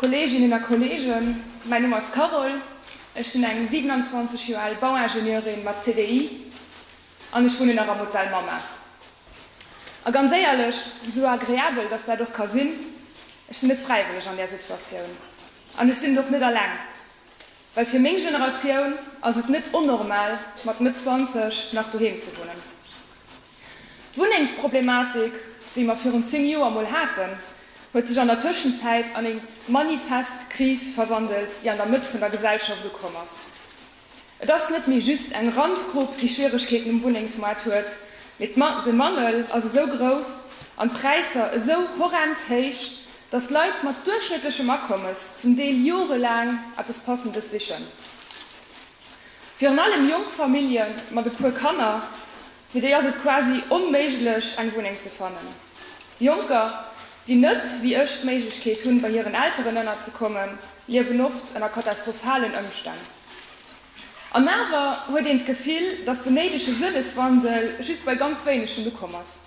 Kolleeginnen a Kolleegen, mäin Numm ass Carole, ech sinn eng 27 Joer al Bauingenieurin mat CDI an ech wunnen nach am Hotel Mama. A ganz éierlech, esou agreabel datt dat och ka sinn, ech sinn net fräiwëlleg an där Situatioun an ech sinn et och net alleng, well fir meng Generatioun ass et net onnormal mat Mëtt 20 nach doheem ze wunnen. D'Wunnengsproblematik, déi mer virun zéng Joer mol haten, huet sech an der Tëschenzäit an eng manifest Kris verwandelt, déi an der Mëtt vun der Gesellschaft ukomm ass. Et ass net méi just eng Randgrupp, déi Schwieregkeeten um Wunnengsmoart huet, mee de Mangel ass esou grouss an d'Präisser esou horrend héich, datt Leit mat duerchschnëttlechem Akommes zum Deel jorelaang eppes Passendes sichen. Virun allem jonk Famillje mat e puer Kanner, fir déi ass et quasi onméiglech eng Wunneng ze fannen. Jonker, déi net wéi ech d'Méiglechkeet hunn, bei hiren Elteren ënnerzekommen, liewen oft ënner katastrophalen Ëmstänn. An awer huet een d'Gefill, datt den néidege Sënneswandel just bei ganz wéinegen ukomm ass.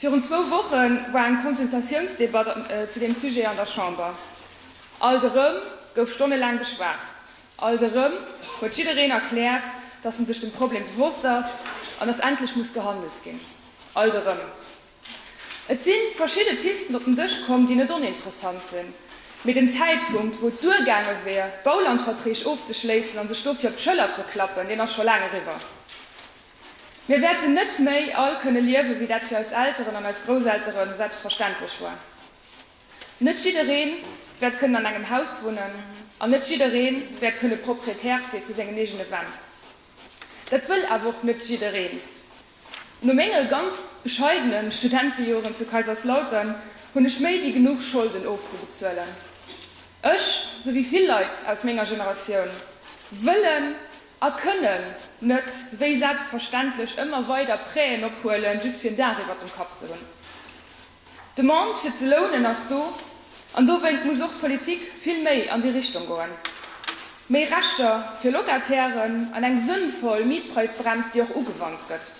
Virun zwou Woche war eng Consultatiounsdebatt zu deem Sujet an der Chamber. Alt erëm gouf stonnelaang geschwat. Alt erëm huet jiddereen erkläert, dass en sech dem Problem bewosst ass an dass endlech muss gehandelt ginn. Alt erëm. Et si verschidde Pisten op den Dësch komm, déi net oninteressant sinn, mee den Zäitpunkt, wou et duergaange wier, Baulandverträg ofzeschléissen a sech dofir op d'Schëller ze klappen, deen ass scho laang eriwwer. Mir wäerten net méi all kënne liewen, wéi dat fir eis Elteren an eis Grousseltere selbstverständlech war. Net jiddereen wäert kënnen an engem Haus wunnen an net jiddereen wäert kënnen Propriétaire si vu sengen eegene Wänn. Dat wëll awer och net jiddereen. No menge ganz bescheidene Studentejoren zu Kaiserslautern hunn ech méi wéi genuch Scholden ofzebezuelen. Ech, sou wéi vill Leit aus menger Generatioun, wëllen a kënnen net wéi selbstverständlech ëmmer weider Prêten ophuelen, just fir en Daach iwwert dem Kapp ze hunn. D'Demande fir ze lounen ass do, an dowéint muss och d'Politik vill méi an déi Richtung goen. Méi Rechter fir Locatairen an eng sënnvoll Mietpreisbrems, déi och ugewannt gëtt.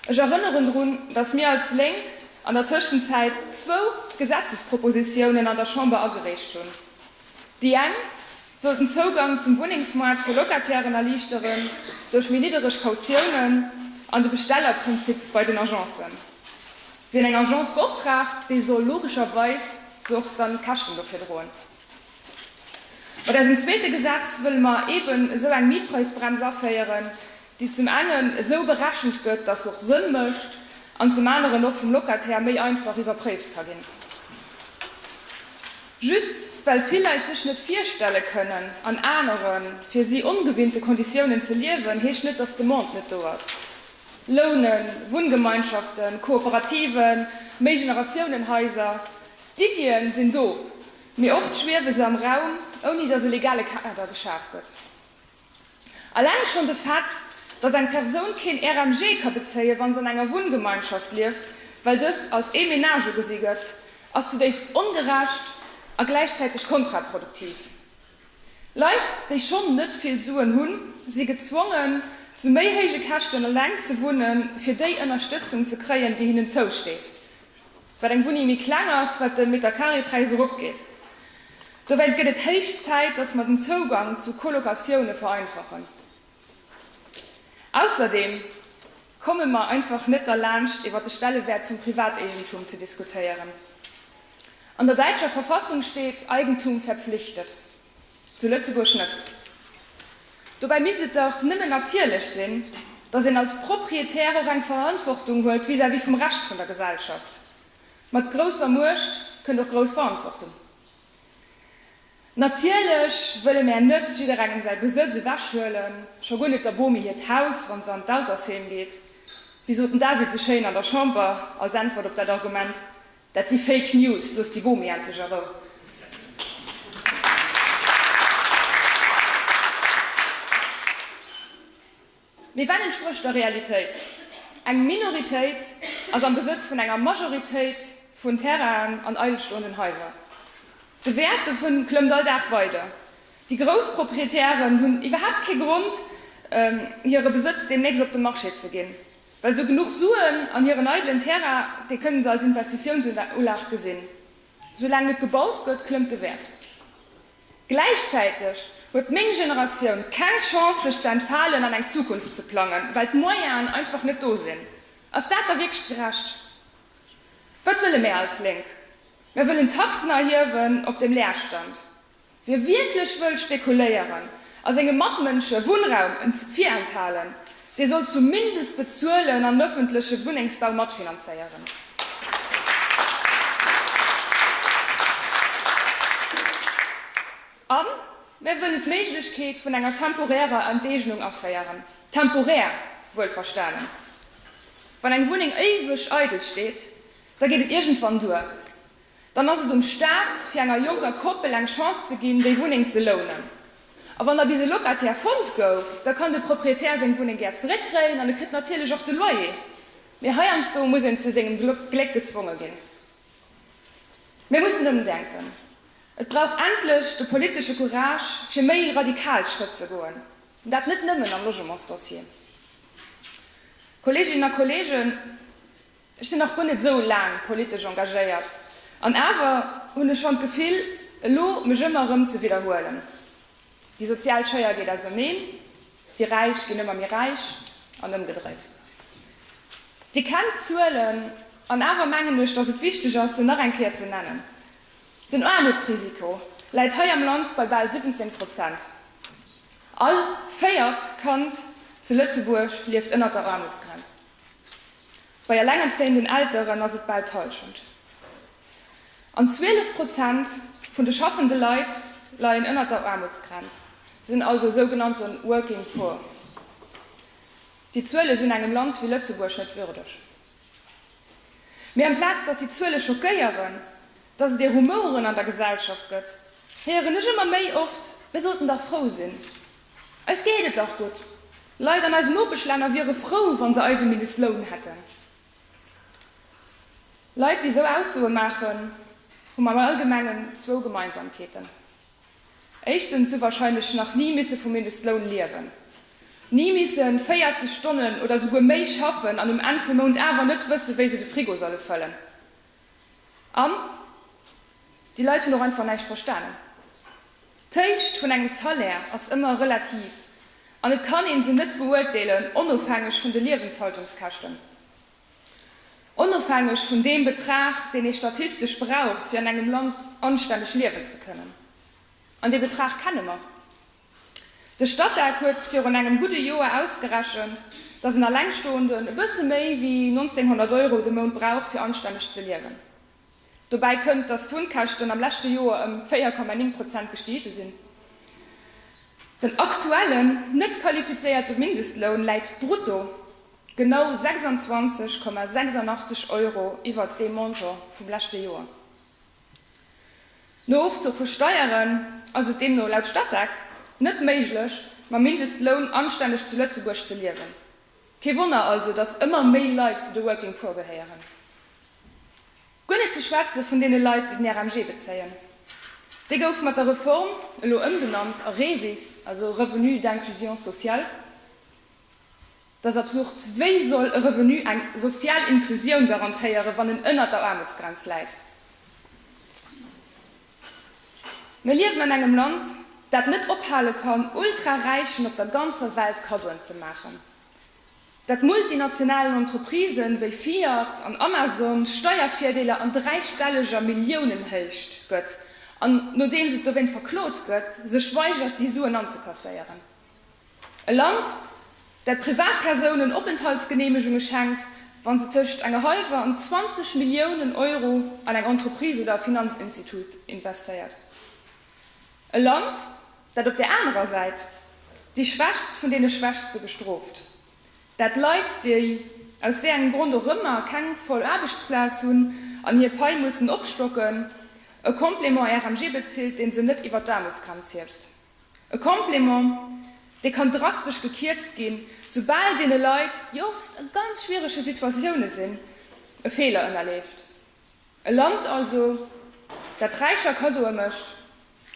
Ech erënneren drun, datt mir als Lénk an der Tëschenzäit zwou Gesetzespropositiounen an der Chamber agereecht hunn. Déi eng soll den Zougang zum Wunnengsmoart fir Locatairen erliichteren, duerch méi niddereg Kautiounen an de Bestellerprinzip bei den Agencen. Wien eng Agence beoptraagt, dee soll logescherweis se och dann d'Käschten dofir droen. Mat eisem zweete Gesetz wëlle mer eben esou eng Mietpreisbrems aféieren, déi zum engen esou berechent gëtt, dass se och Sënn mécht, an zum aneren och vum Locataire méi einfach iwwerpréift ka ginn. Just well vill Leit sech net virstelle kënnen, an anere fir si ongewinnte Konditiounen ze liewen, heescht net, dass d'Demande net do ass. Lounen, Wunngemeinschaften, Kooperativen, Méigeneratiounen-Haiser, d'Iddien sinn do, mee oft schwiewe se am Raum, ouni dass e legale Kader geschaf gëtt. Alleng schonn de Fait, dass eng Persoun keen RMG ka bezéien, wa se an enger Wunngemeinschaft lieft, well dës als ee Menage ugesi gëtt, ass zudéifst ongerecht a gläichzäiteg kontraproduktiv. Leit, déi schonn net vill Suen hunn, si gezwongen, zu méi héije Käschten eleng ze wunnen, fir déi Ënnerstëtzung ze kréien, déi hinnen zousteet. Wat eng Wunnéng méi kleng ass, wat de Meterkareepräis erop geet. Dowéint gëtt et héich Zäit, dass mer den Zougang zu Colocatioune vereinfachen. Ausserdeem komme mer einfach net derlaanscht, iwwer de Stellewäert vum Privateegentum ze diskutéieren. An der däitscher Verfassung steet, Eigentum verpflichtet. Zu Lëtzebuerg net. Dobäi misst et dach nëmmen natierlech sinn, datt een als Proprietär och eng Verantwortung huet vis-à-vis vum Rescht vun der Gesellschaft. Mat grousser Muecht kënnt och grouss Verantwortung. Natierlech wëlle mär net jidderengem säi Besëtz ewechhuelen, scho guer net der Bomi hiert Haus, wa se an d'Altersheem geet. Wéi sot den David sou schéin an der Chamber als Äntwert op dat Argument, Dat si Fake News, loosst déi Bomi endlech a Rou. Mee wat entsprécht der Realitéit? Eng Minoritéit ass am Besëtz vun enger Majoritéit vun Terrainen an eilstoenden Haiser. De Wäert dovun klëmmt all Dag weider. Déi grouss Proprietären hunn iwwerhaapt kee Grond, hire Besëtz deemnächst op de Marché ze ginn. Well sou genuch Suen an hiren eidelen Terrain, dee kënne se als Investitiounsulag gesinn. Sou laang net gebaut gëtt, klëmmt de Wäert. Gläichzäiteg huet meng Generatioun keng Chance sech ze entfalen an eng Zukunft ze plangen, well d'Moyenen einfach net do sinn. Ass dat da wierklech gerecht? Wat wëlle mär als Lénk? Mär wëllen Taxen erhiewen op dem Leerstand. Wie wierklech wëll spekuléieren a senge Matmënsche Wunnraum virenthalen, dee soll zumindest bezuelen an ëffentleche Wunnengsbau matfinanzéieren. A mir wëllen d'Méiglechkeet vun enger temporärer Enteegnung aféieren, temporär wuelverstanen. Wann eng Wunneng éiweg eidel steet, da geet et iergendwann duer. Dann ass et um Staat, fir enger jonker Koppel eng Chance ze ginn, déi Wunneng ze lounen. A wann da bis e Locataire fonnt gouf, da kann de Proprietär seng Wunneng gär zeréckkréien an e kritt natierlech och de Loyer. Mee heiansdo muss een zu sengem Gléck gezwonge ginn. Mir mussen ëmdenken. Et brauch endlech de politesche Courage, fir méi radikal Schrëtt ze goen, an dat net nëmmen am Logementsdossier. Kolleeginnen a Kolleegen, Ech sinn nach guer net esou laang politesch engagéiert, an awer hunn ech schonn d'Gefill, elo mech ëmmer erëm ze widderhuelen, Déi sozial Schéier geet auserneen, déi Räich ginn ëmmer méi räich an ëmgedréit. Dir kennt d'Zuelen, an awer mengen ech, datt et wichteg ass, se nach eng Kéier ze nennen. Den Aarmutsrisiko läit hei am Land bei bal 17 Prozent. All véiert Kand zu Lëtzebuerg lieft ënnert der Aarmutsgrenz. Bei elengerzéienden Elteren ass et bal d'Hallschent. An 12 Prozent vun de schaffende Leit leien ënnert der Aarmutsgrenz, sinn also sougenannte working poor. Déi Zuele sinn engem Land wéi Lëtzebuerg net würdeg. Mee amplaz datt déi Zuele schockéieren, datt et ee Rumoren an der Gesellschaft gëtt, héieren ech ëmmer méi oft, mir sollten dach frou sinn. Eis geet et dach gutt. Leit an eisen Nopeschlänner wiere frou, wa se eise Mindestloun hätten. Leit, déi esou Aussoe maachen, hunn am Allgemengen zwou Gemeinsamkeeten. Éischtens hu warscheinlech nach ni misse vum Mindestloun liewen, ni misse 40 Stonnen oder souguer méi schaffen an um Enn vum Mount awer net wësse wéi se de Frigo solle fëllen. An déi Leit hunn och einfach näischt verstanen. D'Héicht vun engem Salaire ass ëmmer relativ an et kann ee se net beurteelen onofhängeg vun de Liewenshaltungskäschten, onofhängeg vun deem Betrag, deen ee statistesch brauch, fir an engem Land anstänneg liewen ze kënnen. An dee Betrag kenne mer. De Statec huet virun engem gudde Joer ausgerechent, datt en Allengstoenden e bësse méi wéi 1900 Euro de Mount brauch, fir anstänneg ze liewen. Dobäi kënnt, datt d'Wunnkäschten am leschte Joer ëm 4,9 Prozent gestige sinn. Den aktuellen, net qualifizéierte Mindestloun läit brutto genau 26,86 Euro iwwert deem Montant vum leschte Joer. No Ofzuch vu Steieren ass et deemno laut Statec net méiglech, mam Mindestloun anstänneg zu Lëtzebuerg ze liewen. Kee Wonner also, datt ëmmer méi Leit zu de Working Poor gehéieren. Guer net ze schwätze vun deene Leit, déi den RMG bezéien. Dee gouf mat der Reform elo ëmgenannt a REVIS, also Revenu d'inclusion sociale. Dat ass absurd. Wéi soll e Revenu eng sozial Inklusioun garantéieren, wann en ënnert der Aarmutsgrenz läit? Mir liewen an engem Land, dat net ophale kann, Ultraräichen op der ganzer Welt Kaddoen ze maachen, dat multinationalen Entreprisen wéi Fiat an Amazon Steiervirdeeler an dräistelleger Milliounenhéicht gëtt an, nodeems et dowéint verklot gëtt, sech weigert, déi Suen anzekasséieren. E Land, dat Privatpersounen Openthaltsgeneemegunge schenkt, wa se tëscht enger hallwer an 20 Milliounen Euro an eng Entreprise oder e Finanzinstitut investéiert. E Land, dat op där anerer Säit déi Schwächst vun deene Schwächste bestrooft, dat Leit, déi aus wéi engem Grond och ëmmer keng voll Aarbechtsplaz hunn an hir Pai mussen opstocken, e Complément RMG bezilt, dee se net iwwert d'Aarmutsgrenz hieft. E Complément, dee kann drastesch gekierzt ginn, soubal deene Leit, déi oft a ganz schwierege Situatioune sinn, e Feeler ënnerleeft. E Land also, dat Räicher Kaddoe mécht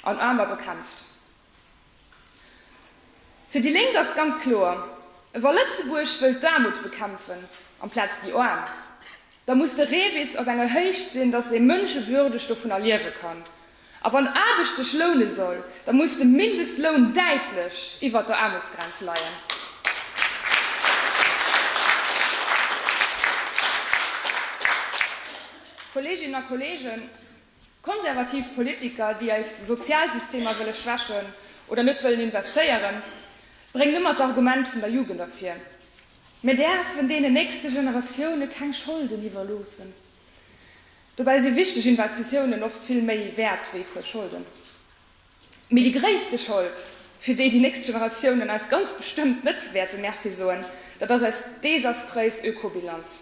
an Aarmer bekämpft. Fir déi Lénk ass et ganz kloer, wa Lëtzebuerg wëllt d'Aarmut bekämpfen amplaz déi Aarm, da muss de REVIS op enger Héicht sinn, datt ee mënschewürdeg dovunner liewe kann. A wann Aarbecht sech loune soll, da muss de Mindestloun däitlech iwwert der Aarmutsgrenz leien. Kolleeginnen a Kolleegen, Konservativ Politiker, déi eis Sozialsystemer wëlle schwächen oder net wëllen investéieren, bréngen ëmmer d'Argument vun der Jugend ervir. Mir däerfen deenen nächste Generatioune keng Scholden iwwerloossen. Dobäi si wichteg Investitiounen oft vill méi wäert wéi e puer Scholden. Mee déi gréisste Schold, fir déi déi nächst Generatiounen eis ganz bestëmmt net wäerte Merci soen, dat ass eis desastréis Ökobilanz.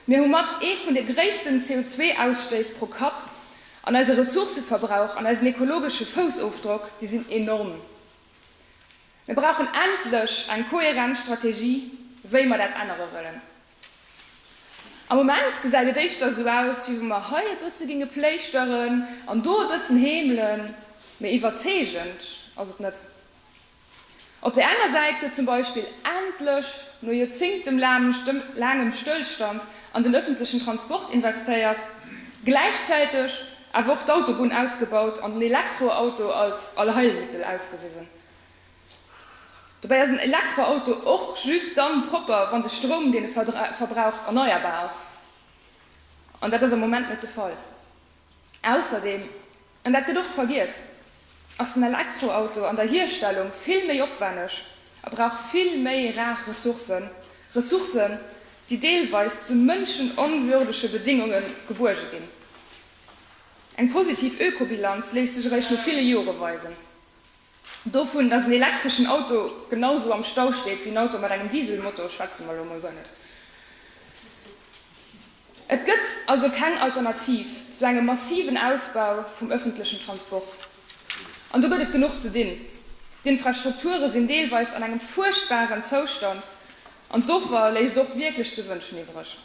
Mir hu mat ee vun de gréissten CO2-Ausstéiss pro Kapp an eise Ressourcëverbrauch an eisen ekologesche Foussofdrock, déi sinn enorm. Mir brauchen endlech eng kohärent Strategie, wéi mer dat ännere wëllen. Am Moment gesäit et éischter esou aus, wéi wa mer hei e bësse géinge pléischteren an do e bëssen heemelen, mee iwwerzeegend ass et net. Op där enger Säit gëtt zum Beispill endlech, no joerzéngtelaangem Stëllstand an den ëffentlechen Transport investéiert, gläichzäiteg awer och d'Autobunn ausgebaut an den Elektroauto als Allheilmittel ausgewisen. Dobäi ass en Elektroauto och just dann propper, wann de Stroum, deen e verbraucht, erneierbar ass. An dat ass am Moment net de Fall. Ausserdeem, an dat gëtt oft vergiess, ass den Elektroauto an der Hierstellung vill méi opwänneg a brauch vill méi rar Ressourcen, Ressourcen, déi deelweis zu mënschenonwürdege Bedingunge gebuerge ginn. Eng positiv Ökobilanz léisst sech eréischt no ville Jore weisen. Dovun, dass en elektreschen Auto genau esou am Stau steet wéi en Auto mat engem Dieselmotor, schwätze mer elo mol guer net. Et gëtt also keng Alternativ zu engem massiven Ausbau vum öffentlechen Transport. An do gëtt et genuch ze dinn. D'Infrastrukture sinn deelweis an engem fuerchtbaren Zoustand an d'Offer léisst och wierklech ze wënschen iwwereg.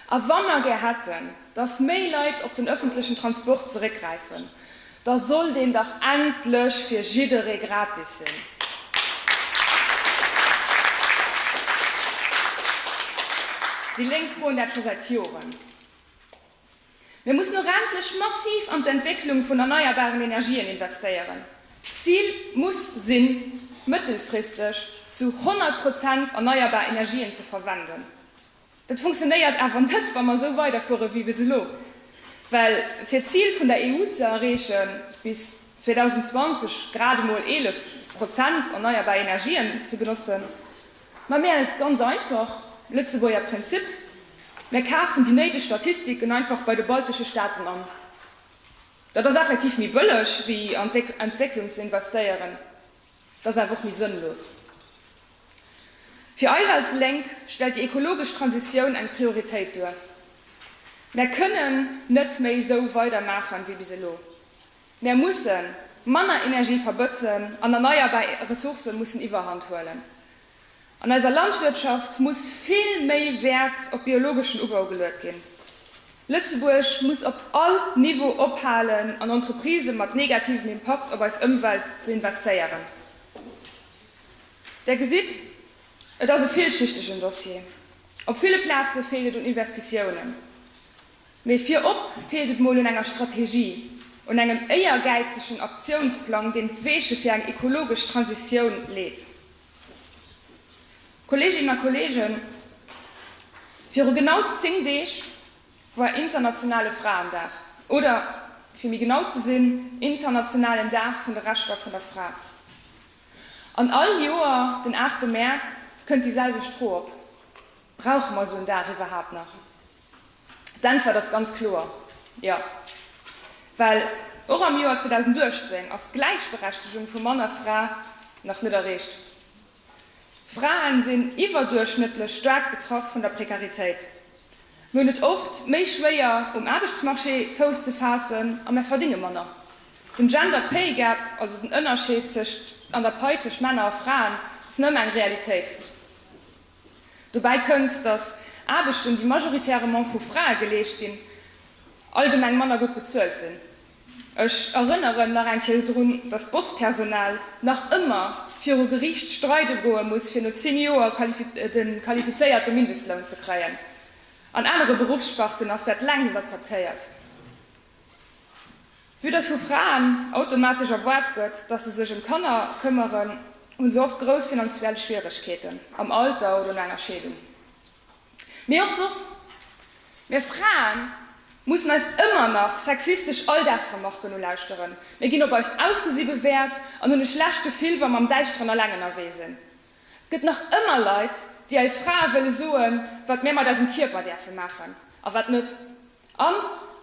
A wa mer gär hätten, dass méi Leit op den öffentlechen Transport zeréckgräifen, da soll deen dach endlech fir jidderee gratis sinn. Déi Lénk froen dat scho säit Joren. Mir mussen och endlech massiv an d'Entwécklung vun erneierbaren Energien investéieren. D'Zil muss sinn, mëttelfristeg zu 100 Prozent erneierbar Energien ze verwenden. Dat funktionéiert awer net, wa mer esou weiderfuere wéi bis elo. Well fir d'Zil vun der EU ze erreechen, bis 2020 grad emol 11 Prozent erneierbar Energien ze benotzen, Mä mär eis ganz einfach, Lëtzebuerger Prinzip, mär kafen déi néideg Statistiken einfach bei de baltesche Staaten an. Dat ass effektiv méi bëlleg wéi an d'Entwécklung ze investéieren, dat ass awer och méi sënnlos. Fir eis als Lénk stellt déi ekologesch Transitioun eng Prioritéit duer. Mär kënnen net méi esou weidermaachen wéi bis elo. Mär musse manner Energie verbëtzen an erneierbar Ressourcë mussen Iwwerhand huelen. An eiser Landwirtschaft muss vill méi Wäert op biologeschen Ubau geluet ginn. Lëtzebuerg muss op all Niveau ophalen an Entreprisë mat negativem Impakt op eis Ëmwelt ze investéieren. Där gesitt, et ass e villschichtegen Dossier. Op ville Plaze feelt et un Investitiounen. Mee virop feelt et mol un enger Strategie, un engem éiergäizegen Aktiounsplang, deen d'Weeche fir eng ekologesch Transitioun leet. Kolleeginnen a Kolleegen, viru genau zéng Deeg war internationale Fraendag, oder fir méi genau ze sinn, internationalen Dag vun de Rechter vun der Fra. An all Joer den aachte Mäerz kënnt déi selwecht Fro op, Brauche mer esou en Dag iwwerhaapt nach? D'Äntwert ass ganz kloer Jo, well och am Joer 2018 ass d'Gläichberechtegung vu Mann a Fra nach net erreecht. Frae sinn iwwerduerchschnëttlech staark betraff vun der Prekaritéit. Mir hunn et oft méi schwéier, um Aarbechtsmarché Fouss ze faassen a mir verdinge manner. Den Gender Pay Gap, also den Ënnerscheed an der Pai tëscht Männer a Fraen, ass nëmme eng Realitéit. Dobäi kënnt, datt Aarbechten, déi majoritäirement vu Frae geleescht ginn, allgemeng manner gutt bezuelt sinn. Ech erënneren nach eng Kéier drun, datt d'Botzpersonal nach ëmmer viru Geriicht streide goe muss, fir no zéng Joer de qualifizéierte Mindestloun ze kréien. An anere Beruffssparten ass dat längst akzeptéiert. Vue dass vu Fraen automatesch erwaart gëtt, dass se sech ëm d'Kanner këmmeren, hu se oft grouss finanziell Schwieregkeeten am Alter oder no enger Scheedung. Mee och soss, mir Frae mussen eis ëmmer nach sexistesch Alldagsremarken ulauschteren, mir ginn op eist Ausgesi bewäert an hunn e schlecht Gefill, wa mer am Däischteren alleng ënnerwee sinn. Et gëtt nach ëmmer Leit, déi eis Frae wëlle soen, wat mir mat eisem Kierper däerfe maachen a wat net. An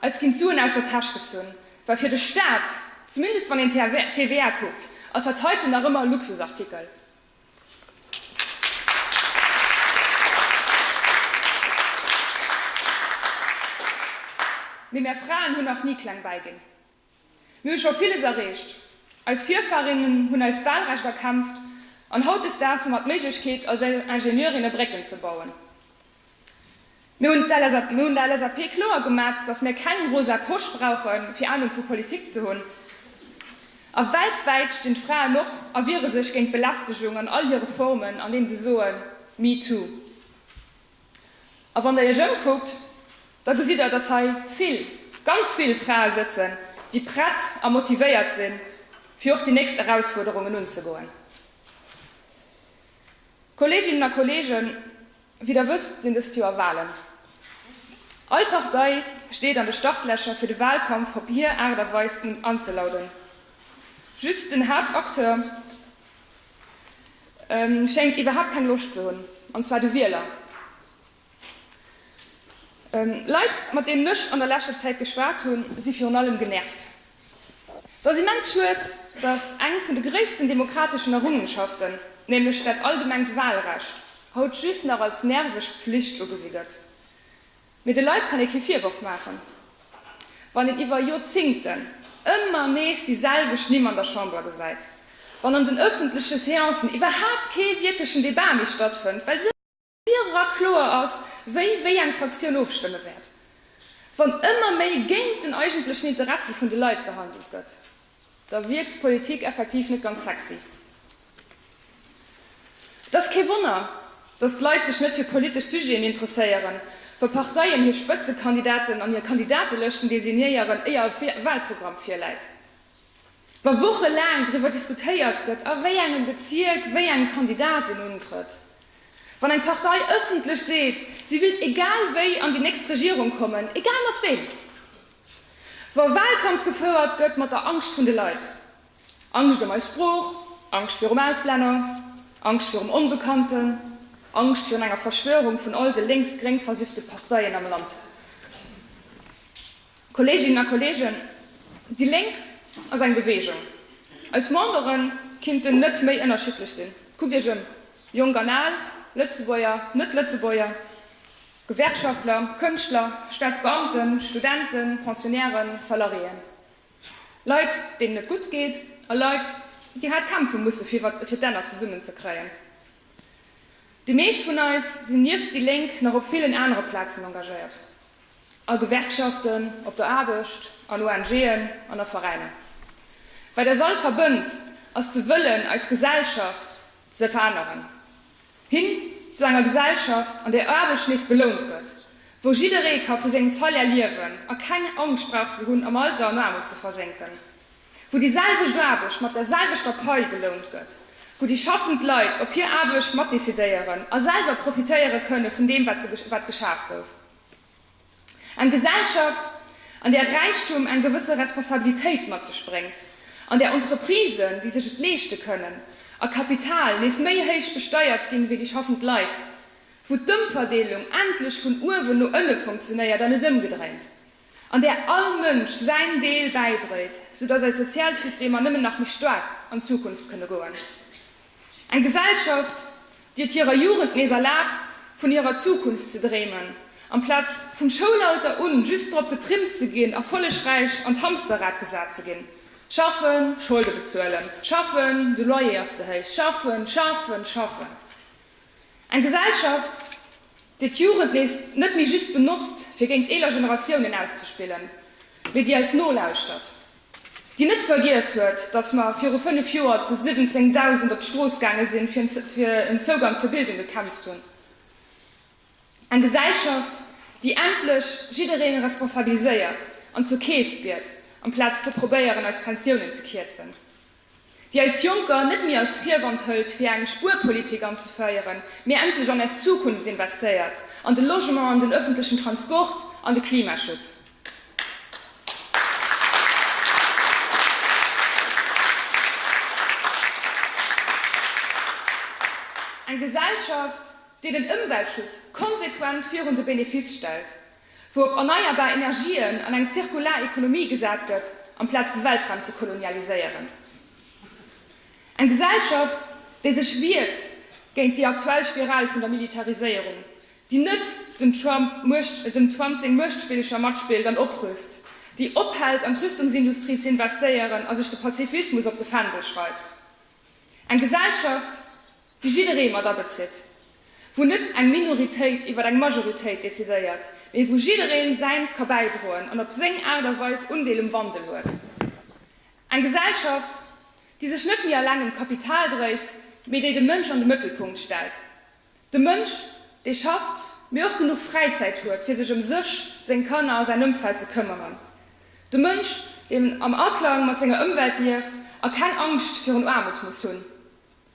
eis ginn d'Suen aus der Täsch gezunn, well fir de Staat, zumindest wann een d'TVA kuckt, ass dat heiten nach ëmmer e Luxusartikel. Mee mär Fraen hunn nach ni kleng bäiginn. Mir hu scho villes erreecht. Eis Virfahrinnen hunn eist Wahlrecht erkämpft an hautdesdaags hu mer d'Méiglechkeet, als Ingenieurinne Brécken ze bauen. Mir hunn der LSAP kloer gemat, dass mir keng rosa Posch brauche fir Anung vu Politik ze hunn. A weltwäit stinn d'Fraen op a wiere sech géint d'Belästegung an all hire Formen, andeem se soen, Me too. A wann Der Iech ëmkuckt, da gesitt Der, dass hei vill, ganz vill Frae sëtzen, déi prett a motivéiert sinn, fir och déi nächst Erausfuerderungen unzegoen. Kolleeginnen a Kolleegen, wéi Der wësst, sinn dëst Joer Wahlen. All Partei steet an de Startlächer, fir de Wahlkampf op hir Aart a Weis anzelauden. Just den Haaptacteur, Schéngt iwwerhaapt keng Loscht ze hunn, an zwar de Wieler. Leit, mat deenen ech an der leschter Zäit geschwat hunn, si virun allem genervt. Et ass immens schued, datt eng vun de gréissten demokrateschen Errungenschaften, nämlech dat allgemengt Walrecht, haut just nach als nerveg Pflicht ugesi gëtt. Mee de Leit kann ee kee Virworf maachen, wann een iwwer Joerzingten ëmmer nees déi selwecht Nimm an der Chamber gesäit, wann an den ëffentleche Seancen iwwerhaapt kee wierklechen Debat méi stattfënnt, well sou virerar kloer ass, wéi wéi eng Fraktioun ofstëmme wäert, wann ëmmer méi géint den eigentlechen Interessi vun de Leit gehandelt gëtt. Da wierkt Politik effektiv net ganz sexy. Et ass kee Wonner, datt d'Leit sech net fir politesch Sujeten interesséieren, wa Parteien hir Spëtzekandidaten an hir Kandidatelëschten designéieren, éier e Walprogramm virläit, wa wochelaang driwwer diskutéiert gëtt, a wéi engem Bezierk wéi eng Kandidat een untrëtt, wann eng Partei ëffentlech seet, si willt egal wéi an déi nächst Regierung kommen, egal mat weem. Wa Wahlkampf gefouert gëtt mat der Angscht vun de Leit, Angscht ëm eis Sprooch, Angscht virum Auslänner, Angscht virum Onbekannten, Angscht virun enger Verschwörung vun all de lénks-gréng versiffte Parteien am Land. Kolleeginnen a Kolleegen, déi Lénk ass eng Beweegung. Eis Membere kinnten net méi ënnerschiddlech sinn. Kuckt Iech ëm, Jonk an Al, Lëtzebuerger, Net-Lëtzebuerger. Gewerkschaftler, Kënschtler, Staatsbeamten, Studenten, Pensionnairen, Salariéen, Leit, deenen et gutt geet, a Leit, déi haart kämpfe musse fir d'Enner zesummen ze kréien. Déi meescht vun eis sinn nieft déi Lénk nach op villen anere Plazen engagéiert, a Gewerkschaften, op der Aarbecht, an ONGen an a Veräiner. Wat eis all verbënnt, ass de Wëllen, eis Gesellschaft ze veränneren. Hin zu enger Gesellschaft, an där Aarbecht nees belount gëtt, wou jidderee ka vu sengem Salaire liewen a keng Angscht brauch ze hunn, am Alter an Aarmut ze versénken, wou déi selwecht Aarbecht mat der selwechter Pai belount gëtt, wou déi schaffend Leit op hir Aarbecht matdecidéieren a selwer profitéiere kënne vun deem, wat geschaf gouf. Eng Gesellschaft, an där Räichtum eng gewësse Responsabilitéit mat sech bréngt, an där Entreprisen, déi sech et leeschte kënnen, a Kapital nees méi héich besteiert ginn, wéi déi schaffend Leit, wou d'Ëmverdeelung endlech vun uewen no ënne funktionéiert an net ëmgedréint, an där all Mënsch säin Deel bäidréit, soudass eis Sozialsystemer nëmmen nach méi staark an d'Zukunft kënne goen. Eng Gesellschaft, déi et hirer Jugend nees erlaabt, vun hirer Zukunft ze dréimen, amplaz vum Schoulalter un just drop getrimmt ze ginn, erfollegräich an d'Hamsterrad gesat ze ginn, Schaffen, Scholde bezuelen, schaffen, de Loyer ass ze héich, schaffen, schaffen, schaffen. Eng Gesellschaft, déi d'Jugend nees net méi just benotzt, fir géint eeler Generatiounen auszespillen, mee déi eis nolauschtert. déi net vergiess huet, datt mer viru fënnef Joer zu 17.000 op d'Strooss gaange sinn, fir fir en Zougang zur Bildung gekämpft hunn, eng Gesellschaft, déi endlech jidderee responsabiliséiert an zur Keess biet, amplaz ze probéieren, eis Pensiounen ze kierzen. déi eis Jonker net méi als Virwand hëlt fir eng Spuerpolitik anzeféieren, mee endlech an eis Zukunft investéiert, an de Logement, an den öffentlechen Transport, an de Klimaschutz. Eng Gesellschaft, déi den Ëmweltschutz konsequent virun de Benefiss stellt, wou op erneierbar Energien an eng zirkular Ekonomie gesat gëtt, amplaz de Weltraum ze kolonialiséieren. Eng Gesellschaft, déi sech wiert géint déi aktuell Spiral vun der Militariséierung, déi net dem Trump dem Trump seng Muechtspillecher matspillt an oprüst, déi ophält an d'Rüstungsindustrie ze investéieren a sech de Pazifismus op de Fändel schreift. Eng Gesellschaft, déi jidderee mat abezitt, wou net eng Minoritéit iwwer eng Majoritéit decidéiert, mee wou jiddereen säint ka bäidroen an op seng Aart a Weis Undeel um Wandel huet. Eng Gesellschaft, déi sech net méi alleng ëm d'Kapital dréit, mee déi de Mënsch an de Mëttelpunkt stellt. De Mënsch, dee schafft, mee och genuch Fräizäit huet, fir sech ëm sech, seng Kanner a säin Ëmfeld ze këmmeren. De Mënsch, deen am Aklang mat senger Ëmwelt lieft a keng Angscht virun Aarmut muss hunn.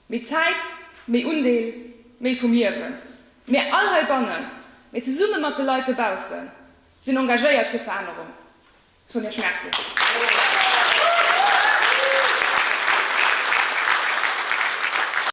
Méi Zäit, méi Undeel, méi vum Liewen. Mir all heibannen, mee zesumme mat de Leit dobaussen, sinn engagéiert fir Verännerung. Soen Iech Merci.